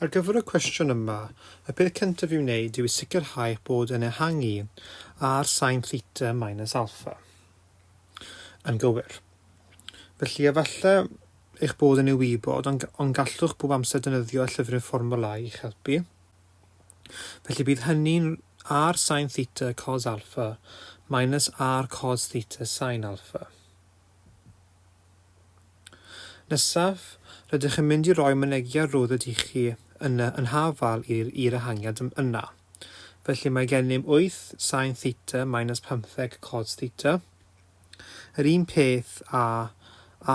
Ar gyfer y cwestiwn yma, y peth cyntaf i'w wneud yw i sicrhau eich bod yn ehangu ar sain theta minus alpha yn gywir. Felly, efallai eich bod yn ei wybod, ond, ond gallwch bob amser defnyddio y llyfryn fformwla i'ch helpu. Felly bydd hynny'n R sin theta cos alpha minus R cos theta sin alpha. Nesaf, rydych yn mynd i roi mynegiad rwdd ydych chi yna yn hafal i'r i'r ehangiad yna. Felly mae gennym 8 sin theta minus 15 cos theta. Yr un peth a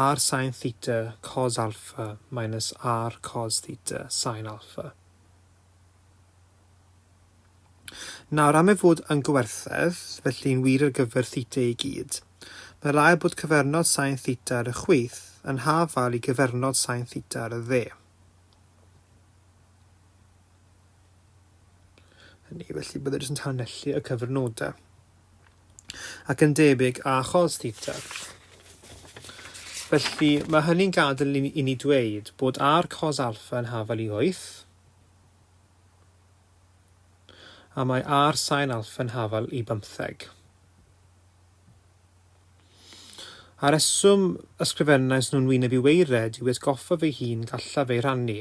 r sin theta cos alpha minus r cos theta sin alpha. Nawr, am ei fod yn gywerthedd, felly'n wir ar gyfer theta i gyd, mae rhaid bod cyfernod sain theta ar y chwith yn hafal i gyfernod sain theta ar y dde. Hynny, felly byddai jyst yn tanellu y cyfernodau. Ac yn debyg a chos theta. Felly, mae hynny'n gadael i ni dweud bod ar cos alfa yn hafal i wyth, A mae ar sain Alphen Hafal i bymtheg. A reswm ysgrifennais nhw'n wyneb i weired yw i atgoffa fy hun gallaf eu rhannu.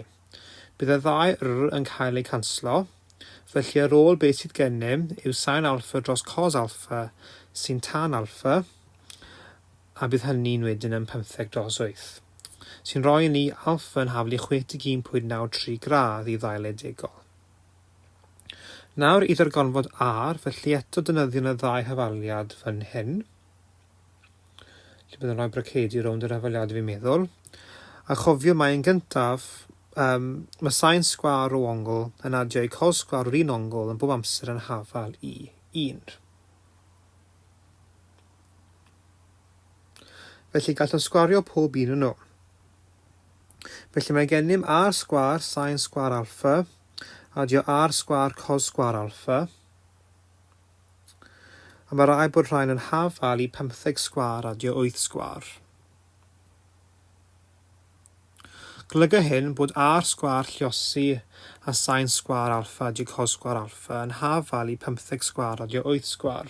Bydd y ddau R yn cael eu canslo, felly ar ôl beth sydd gennym yw sain alpha dros cos alpha sy'n tan alpha, a bydd hynny'n wedyn yn pymtheg dros wyth, sy'n rhoi i ni alfa yn haflu 61.93 gradd i ddail edegol. Nawr i ddargonfod ar, felly eto defnyddiwn y ddau hafaliad fan hyn, lle bydd yn rhoi bracedi rownd yr hafaliad fi'n meddwl, a chofio mae yn gyntaf, um, mae sain sgwar o ongl yn adio i col sgwar o'r un ongl yn bob amser yn hafal i 1. Felly gallwn sgwario pob un yno. Felly mae gennym r sgwar sain sgwar alfa, adio r sgwar cos sgwar alfa, a mae rhaid bod rhain yn hafal i 15 sgwar adio 8 sgwar. Golyga hyn bod r sgwar lliosi a sain sgwar alfa adio cos sgwar alfa yn hafal i 15 sgwar adio 8 sgwar.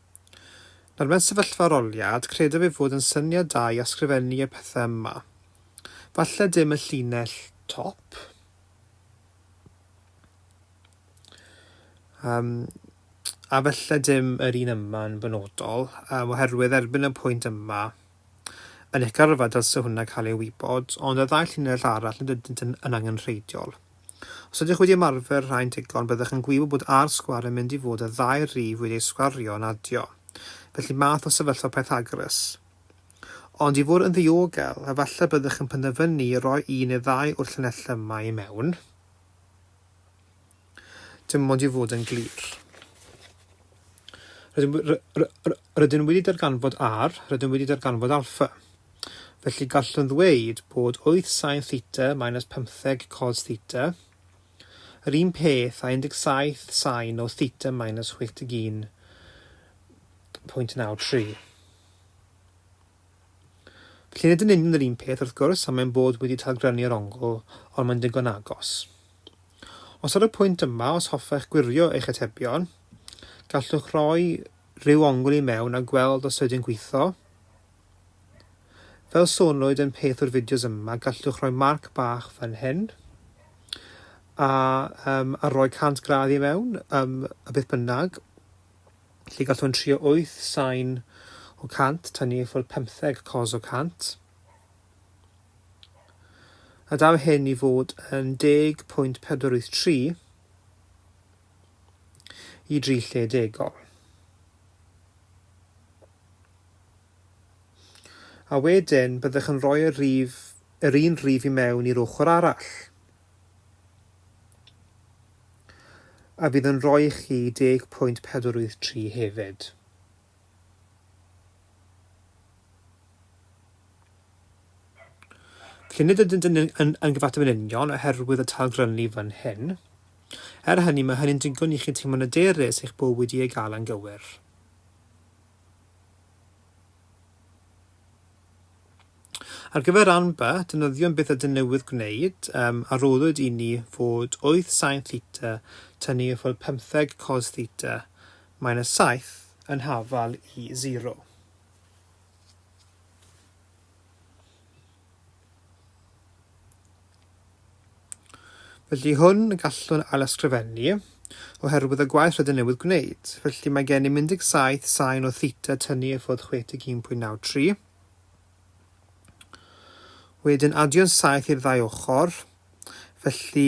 Nawr mewn sefyllfa aroliad, credaf ei fod yn syniad da i asgrifennu y pethau yma. Falle dim y llinell top. Um, a falle dim yr un yma yn benodol, um, oherwydd erbyn y pwynt yma, Yn eich gyrfa dylse hwnna cael ei wybod, ond y ddau llinell arall nad ydynt yn yn angenrheidiol. Os ydych wedi ymarfer rhai'n digon, byddech yn gwybod bod ar sgwar yn mynd i fod y ddau rif wedi eu sgwario yn adio. Felly math o sefyllfa Pythagoras. Ond i fod yn ddiogel, efallai byddech yn penderfynu roi un neu ddau o'r llinellau yma i mewn, Dim ond i fod yn glir. Rydyn wedi darganfod R, rydyn wedi darganfod alpha. Felly gallwn ddweud bod 8 sin theta minus 15 cos theta yr un peth a 17 sin o theta minus 81.93. Felly nid yn union yr un peth, wrth gwrs, am ein bod wedi talgrynnu'r ongl, ond mae'n ddigon agos. Os ar y pwynt yma, os hoffech gwirio eich atebion, gallwch roi rhyw ongl i mewn a gweld os ydy'n gwitho. Fel sonwyd yn peth o'r fideos yma, gallwch roi marc bach fan hyn a, um, a roi 100 gradd i mewn, um, a beth bynnag. Felly gallwn trio wyth sain o 100 tan ni ffwrdd pymtheg cos o 100. A daw hyn i fod yn 10.483 i dri lle degol. A wedyn byddwch yn rhoi y rif, yr un rif i mewn i'r ochr arall. A fydd yn rhoi i chi 10.483 hefyd. Felly nid ydynt yn, yn, yn gyfateb yn union oherwydd y talgrynnu fan hyn. Er hynny, mae hynny'n digon i chi teimlo'n aderus eich bod wedi ei gael yn gywir. Ar gyfer Anba, defnyddiwn beth ydyn newydd gwneud, um, a roddwyd i ni fod wyth sain theta tynnu i ffwrdd pymtheg cos theta, mae'n y saith yn hafal i zero. Felly hwn y gallwn ailysgrifennu, oherwydd y gwaith rydyn newydd gwneud. Felly mae gennym 17 sain o theta tynnu i ffwrdd 61.93. Wedyn adio'n saith i'r ddau ochr, felly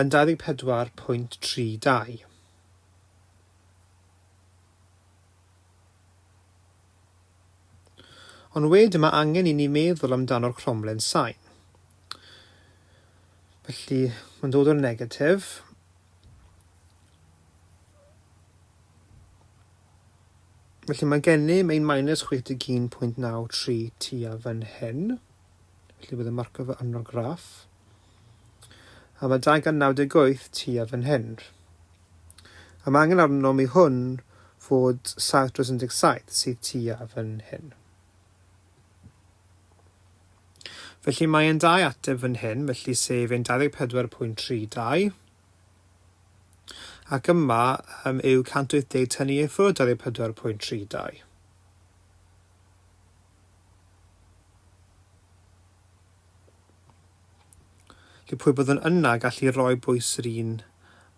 yn 24.32. Ond wedyn mae angen i ni meddwl amdano'r cromlen sain. Felly, mae'n dod o'r negatif. Felly mae gennym ein minus 61.93 tua fan hyn. Felly bydd y marcio fe arno'r graff. A mae 298 tua fan hyn. A mae angen arnom i hwn fod 717 sydd tua fan hyn. Felly mae e'n dau ateb fan hyn, felly sef e'n 24.32. Ac yma um, yw 180 tynnu i ffwrdd 24.32. Felly pwy byddwn yna gallu rhoi bwys yr un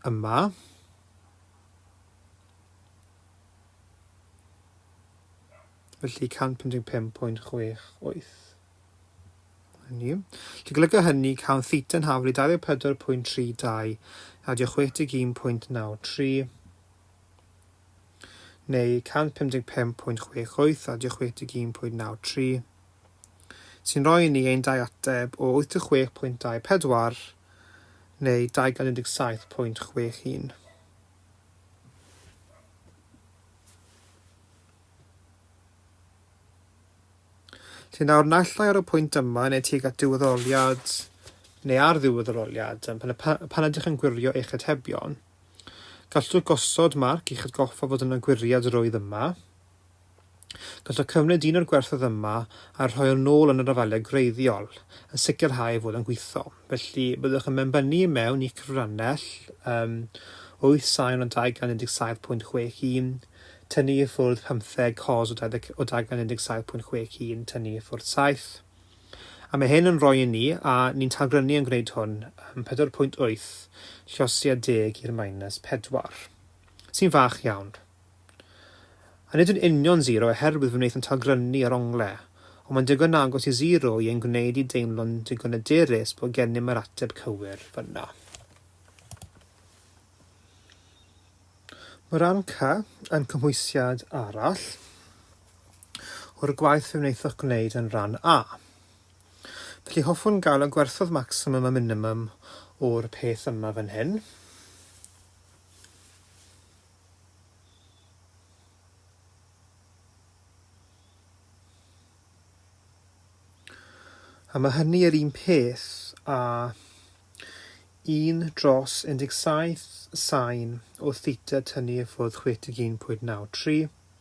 yma? Felly 155.68. Hynny. Felly golyga hynny cawn theta yn haflu 24.32 a diolch 61.93 neu 155.68 a 61.93, sy'n rhoi i ni ein dau ateb o 86.24 neu 217.61. Felly nawr, naill ai ar y pwynt yma neu tuag at diwedd yr oliad neu ar ddiwedd yr oliad, pan, pan ydych yn gwirio eich atebion, Gallwch gosod marc i'ch atgoffa fod yna gwiriad roedd yma. Gallwch cymryd un o'r gwerthoedd yma a rhoi o nôl yn yr afaeliad gwreiddiol, yn sicrhau ei fod yn gwitho. Felly, byddwch yn benbynnu i mewn i'ch cyfrannell um, 8 sain o dagan 17.61, tynnu i ffwrdd 15 cos o dagan 17.61, tynnu i ffwrdd 7, A mae hyn yn rhoi i ni, a ni'n tagrynu yn gwneud hwn, yym, 4.8 llosiad deg i'r minus pedwar, sy'n fach iawn. A nid yn union sero oherwydd fe wnaeth yn tagrynu ar ongle, ond mae'n digon agos i sero i ein gwneud i deimlo'n digon hyderus bod gennym yr ateb cywir fan'na. Mae rhan C yn cymhwysiad arall. o'r gwaith fe wnaethoch gwneud yn Rhan A. Felly, hoffwn gael y gwerthoedd maximum a minimum o'r peth yma fan hyn. A mae hynny yr un peth a 1 dros 17 sain o theta tynnu i ffwrdd 61.93.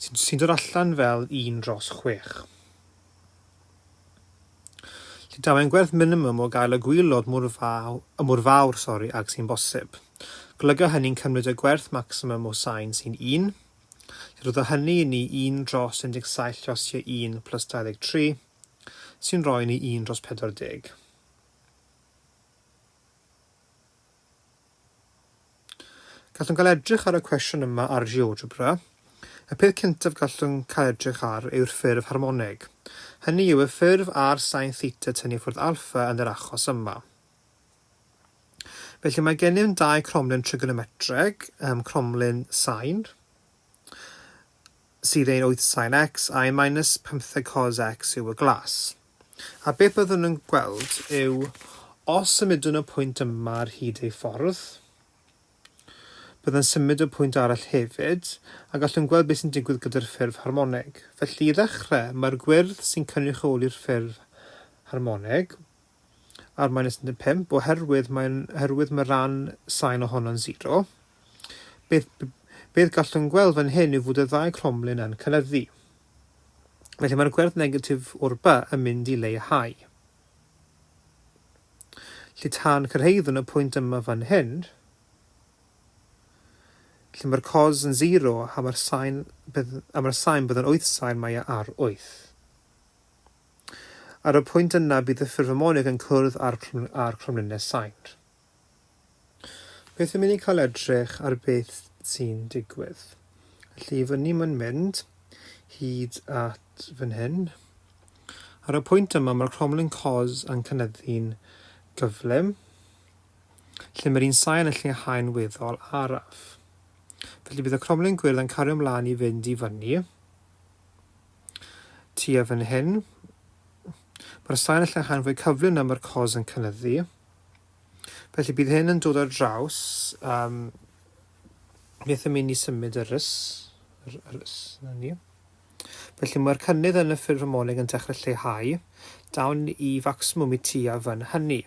sy'n sy dod allan fel un dros chwech. Llundawen gwerth minimum o gael y gwylod mor fawr, y mor fawr sori, ag sy'n bosib. Golyga hynny'n cymryd y gwerth maximum o sain sy'n 1, lle roedd hynny i ni 1 dros 17 llosiau 1 plus 23, sy'n rhoi ni 1 dros 40. Gallwn gael edrych ar y cwestiwn yma ar GeoGebra. Y peth cyntaf gallwn cael edrych ar yw'r ffurf harmoneg. Hynny yw y ffurf ar sain theta tynnu ffwrdd alffa yn yr achos yma. Felly mae gennym dau cromlin trigonometreg, um, cromlin sain, sydd ein 8 sain x a'i minus 15 cos x yw y glas. A beth byddwn yn gweld yw, os symudwn y pwynt yma ar hyd ei ffordd, byddai'n symud y pwynt arall hefyd, a gallwn gweld beth sy'n digwydd gyda'r ffurf harmoneg. Felly, i ddechrau, mae'r gwyrdd sy'n cynrychioli'r ffurf harmoneg, r minus 15, oherwydd mae, oherwydd mae rhan sain ohono'n sero. Beth, beth gallwn gweld fan hyn yw fod y ddau cromlin yn cynyddu. Felly mae'r gwerth negatif o'r ba yn mynd i leihau. Lle tan cyrhaeddwn y pwynt yma fan hyn, lle mae'r cos yn 0 a mae'r sain, a mae'r sain bydd yn 8 sain mae e ar 8. Ar y pwynt yna bydd y ffurf harmonig yn cwrdd â'r, â'r cromlines sain. Beth am i ni cael edrych ar beth sy'n digwydd. Felly i fyny mae'n mynd hyd at fan hyn. Ar y pwynt yma mae'r cromlin cos yn cynyddu'n gyflym, lle mae'r un sain yn lleihau'n weddol araf. Felly bydd y cromlin gwyrdd yn cario ymlaen i fynd i fyny. Tua fan hyn, mae'r sain yn lleihau'n fwy cyflym na mae'r cos yn cynyddu. Felly bydd hyn yn dod ar draws um, beth yn mynd i symud yr ys, yr, yr ys na ni. Felly mae'r cynnydd yn y ffurf ymoleg yn dechrau lleihau, dawn i facsimwm i ti a fan hynny.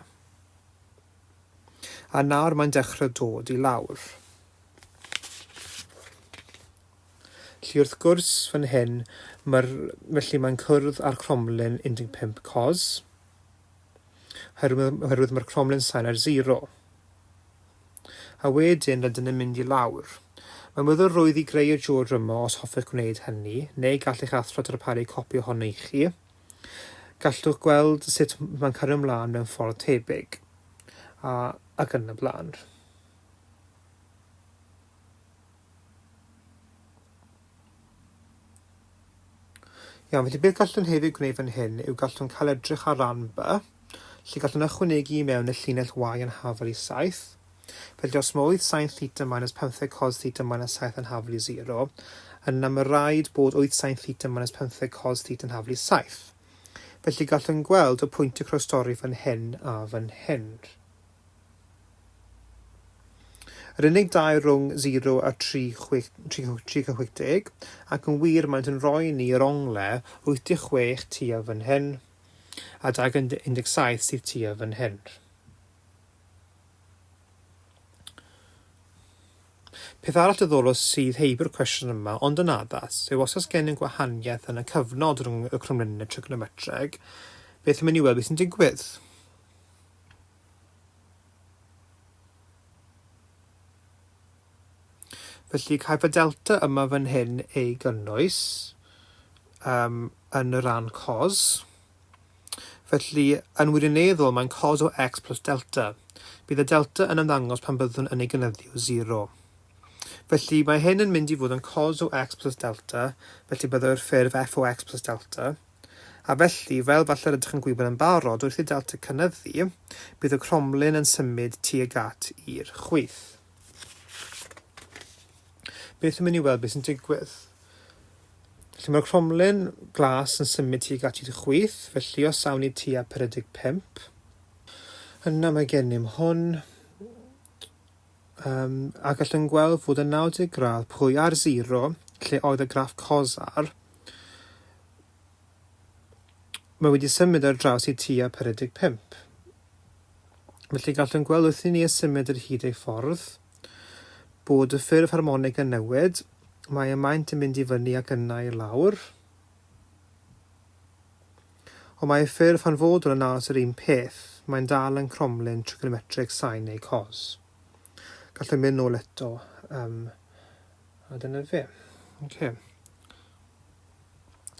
A nawr mae'n dechrau dod i lawr. Felly wrth gwrs fan hyn, mae'r, felly mae'n cwrdd â'r cromlin 15 cos, oherwydd, oherwydd mae'r cromlin sain ar zero. A wedyn rydyn yn mynd i lawr. Mae'n weddol rwydd i greu y George yma os hoffech gwneud hynny, neu gall eich athro darparu copi ohono i chi. Gallwch gweld sut mae'n cario ymlaen mewn ffordd tebyg. A, ac yn y blaen. Iawn, felly beth gallwn hefyd gwneud fan hyn yw gallwn cael edrych ar ran by, lle gallwn ychwanegu i mewn y llinell y yn hafel i 7. Felly os mae oedd sain theta minus 15 cos theta minus 7 yn hafel i 0, yna mae rhaid bod oedd sain theta minus 15 cos theta yn hafel i 7. Felly gallwn gweld y pwynt y croestori fan hyn a fan hyn. Yr unig dau rhwng 0 a 360, ac yn wir maent yn rhoi ni yr ongle 86 tua fan hyn, a dau gan 17 sydd tua fan hyn. Peth arall dyddol o sydd heib'r cwestiwn yma, ond yn addas, yw os oes gen yn gwahaniaeth yn y cyfnod rhwng y cromliniau trignometreg, beth yn mynd i weld beth sy'n digwydd. Felly, caiff y delta yma fan hyn ei gynnwys um, yn y rhan cos. Felly, yn wirioneddol, mae'n cos o x plus delta. Bydd y delta yn ymddangos pan byddwn yn ei gynyddio 0. Felly, mae hyn yn mynd i fod yn cos o x plus delta, felly byddai'r ffurf f o x plus delta, a felly, fel falle rydych yn gwybod yn barod, wrth i'r delta cynyddu, bydd y cromlin yn symud tuag at i'r chwith. Beth yn mynd i weld beth sy'n digwydd? Felly mae'r cromlin glas yn symud tuag at i'r chwith, felly os awn ni tua 45, yna mae gennym hwn, Yym, a gallwn gweld fod y 90 gradd pwy ar 0, lle oedd y graff cosar, mae wedi symud ar draws i tua 45. Felly gallwn gweld wrth i ni ysymud yr hyd ei ffordd, bod y ffurf harmonig yn newid, mae y maint yn mynd i fyny ac yna i lawr. Ond mae ei ffurf hanfodol yn aros yr un peth, mae'n dal yn cromlin trigonometreg sin neu cos. Gallwn mynd nôl eto, um, a dyna fe. Okay.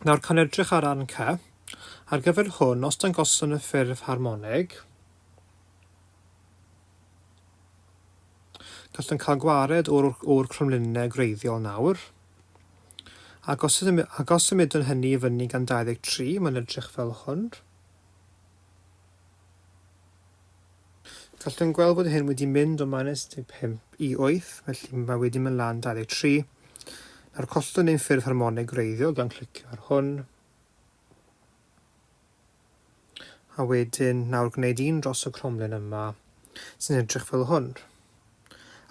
Nawr, cawn edrych ar arn ca. Ar gyfer hwn, os dangoswn y ffurf harmonig, gallwn cael gwared o'r, or cromlinau gwreiddiol nawr. Ac os, ac os symudwn hynny i fyny gan 23, mae'n edrych fel hwn. Gallwn yn gweld bod hyn wedi mynd o minus 15 i 8, felly mae wedi mynd lan 23. Nawr collwn ein ffurf harmonig wreiddiol gan clicio ar hwn. A wedyn, nawr gwneud un dros y cromlin yma, sy'n edrych fel hwn.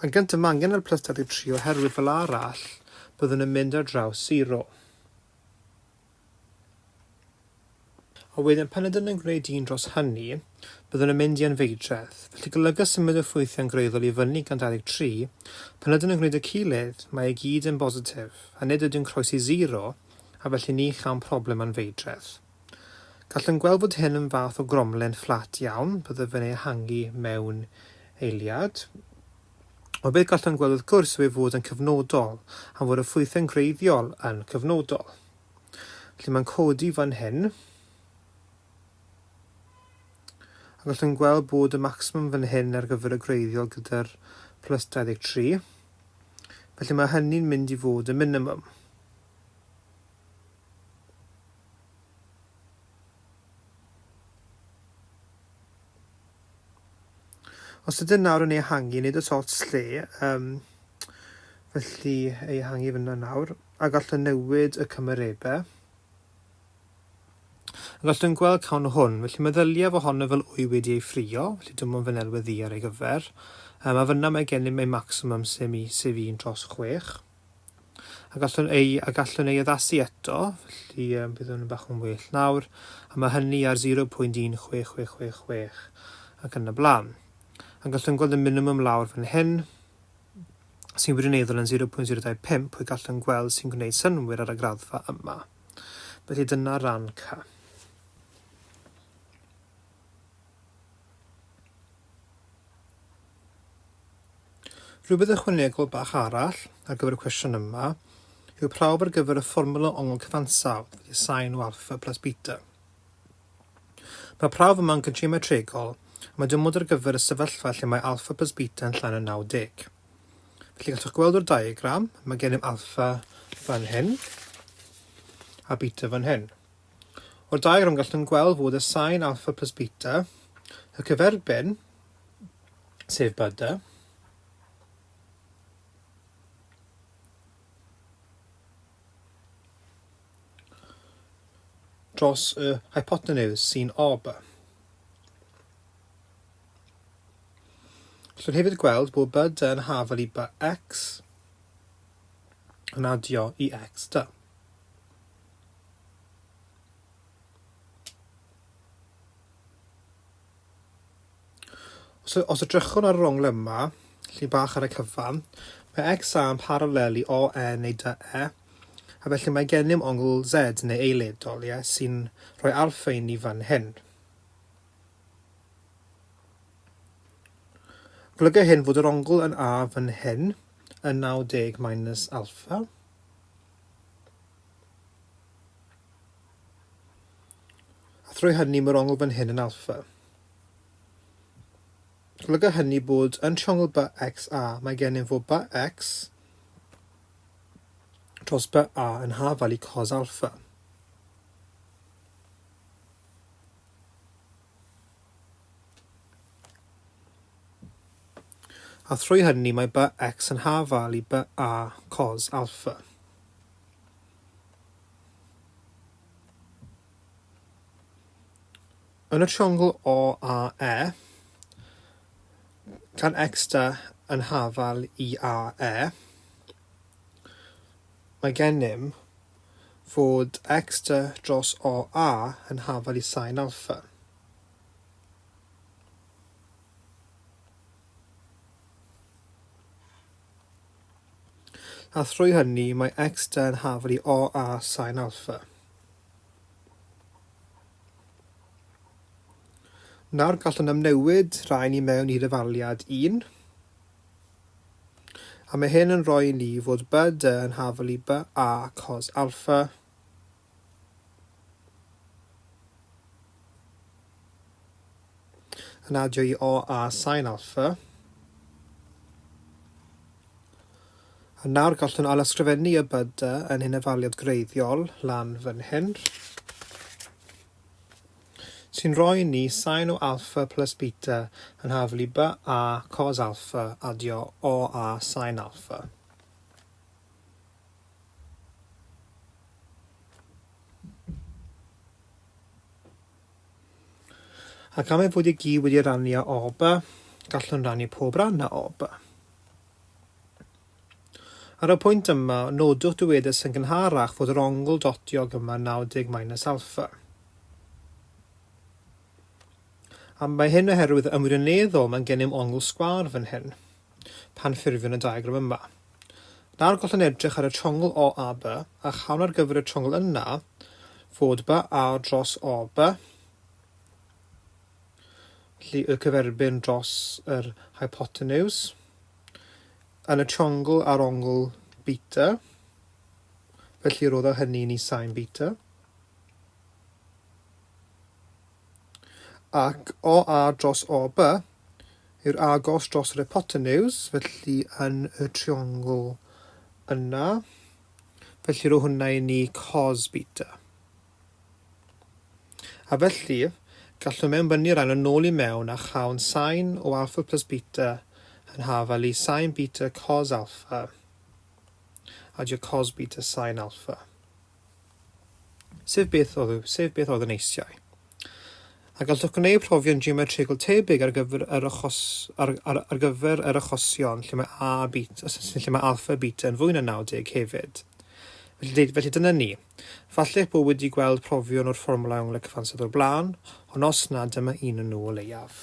Yn gyntaf, mae angen yr plus 23 oherwydd fel arall, byddwn yn mynd ar draws 0. A wedyn, pan ydyn yn gwneud un dros hynny, byddwn yn mynd i anfeidredd. Felly golyga symud y ffwythiau'n greiddiol i fyny gan 23, pan ydyn yn gwneud y cilydd, mae i gyd yn bositif, a nid ydyn croesi 0, a felly ni chawn problem â'n feidredd. Gallwn gweld fod hyn yn fath o gromlen fflat iawn, byddaf yn ei ehangu mewn eiliad. Ond beth gallwn gweld wrth gwrs yw ei fod yn cyfnodol, am fod y ffwythau'n gwreiddiol yn cyfnodol. Felly mae'n codi fan hyn, a gallwn gweld bod y maximum fan hyn ar gyfer y gwreiddiol gyda'r plus 23. Felly mae hynny'n mynd i fod y minimum. Os ydyn nawr yn ei hangi, nid oes ots lle, um, felly ei hangi fyna nawr, a gallwn newid y cymarebau. A gallwn gweld cawn hwn, felly meddyliaf ohono fel wy wedi ei ffrio, felly dim ond fy nelwedd ddi ar ei gyfer. Um, a fyna mae gennym ei maximum sef, sef un tros chwech. a gallwn ei, a gallwn ei addasu eto, felly um, bydd hwn yn bach yn well nawr, a mae hynny ar 0.16666 ac yn y blaen. A gallwn gweld y minimum lawr fan hyn, sy'n wirioneddol yn 0.025, pwy gallwn gweld sy'n gwneud synwyr ar y graddfa yma. Felly dyna ran ca. Rhywbeth ychwanegol bach arall ar gyfer y cwestiwn yma yw prawf ar gyfer y fformwla ongl cyfansawdd i sain o alffa plus beta. Mae prawf yma'n gyntrymatregol a mae dymod ar gyfer y sefyllfa lle mae alffa plus beta yn llai na 90. Felly gallwch gweld o'r diagram, mae gennym alffa fan hyn a beta fan hyn. O'r diagram gallwn gweld fod y sain alpha plus beta, y cyferbyn, sef beta, dros y hypotenuse sy'n ob. Gallwn hefyd gweld bod byd yn hafel i by x yn adio i x da. Os y- os edrychwn ar yr ongl yma, lle bach ar y cyfan, mae X A yn paralel i O E neu Dy E, a felly mae gennym ongl Z neu eiledol, ie, sy'n rhoi alffa i ni fan hyn. Golyga hyn fod yr ongl yn A fan hyn yn 90 minus alffa. A thrwy hynny mae'r ongl fan hyn yn alpha. Golyga hynny bod yn triongl ba x a mae gennym fo ba x dros ba a yn hafal i cos alpha. A thrwy hynny mae BX yn haf-val i BA cos alffa. Yn y triongl OAE, gan X da yn haf-val i AE, mae gennym fod X da dros OA yn haf-val i sin alffa. A thrwy hynny mae X-da yn hafal i OA sain alffa. Nawr gallwn amnewid rhain i mewn i ddefaliad 1, a mae hyn yn rhoi i ni fod BD yn hafal i BA cos alffa, Yn adio i O a Sain Alpha. A nawr gallwn ailysgrifennu y byda yn hyn efaliad gwreiddiol lan fan hyn sy'n rhoi ni sain o alpha plus beta yn hafl i by a cos alpha adio o a sain alpha. Ac am ei fod i gyd wedi rannu a oba, gallwn rannu pob ran a oba. Ar y pwynt yma, nodwch dywedus yn gynharach fod yr ongl dotiog yma 90 minus alpha. A mae hyn oherwydd ymwirioneddol mae'n gennym ongl sgwâr fan hyn. pan ffurfiwn y diagram yma. Nawr gallwn edrych ar y triongl OAB a chawn ar gyfer y triongl yna fod BA dros OB, felly y cyferbyn dros yr hypotenws, yn y triongl ar ongl beta, felly roddo hynny ni sain beta. Ac o A dros O By yw'r agos dros yr hypotenws, felly yn y triongl yna. Felly rho hwnna i ni cos beta. A felly, gallwn mewnbynnu rhan yn ôl i mewn a chawn sain o alfa plus beta yn hafal i sain beta cos alfa. Adio cos beta sain alfa. Sef beth oedd, sef beth oedd yn eisiau. A gallwch gwneud profion geometrigol tebyg ar gyfer yr achos, ar, ar, ar gyfer yr achosion lle mae a a beta, lle mae alfa a beta yn fwy na 90 hefyd. Felly, felly dyna ni. Falle'ch bod wedi gweld profion o'r fformwlau onglau cyfansawdd o'r blaen, ond os na, dyma un yn nhw o leiaf.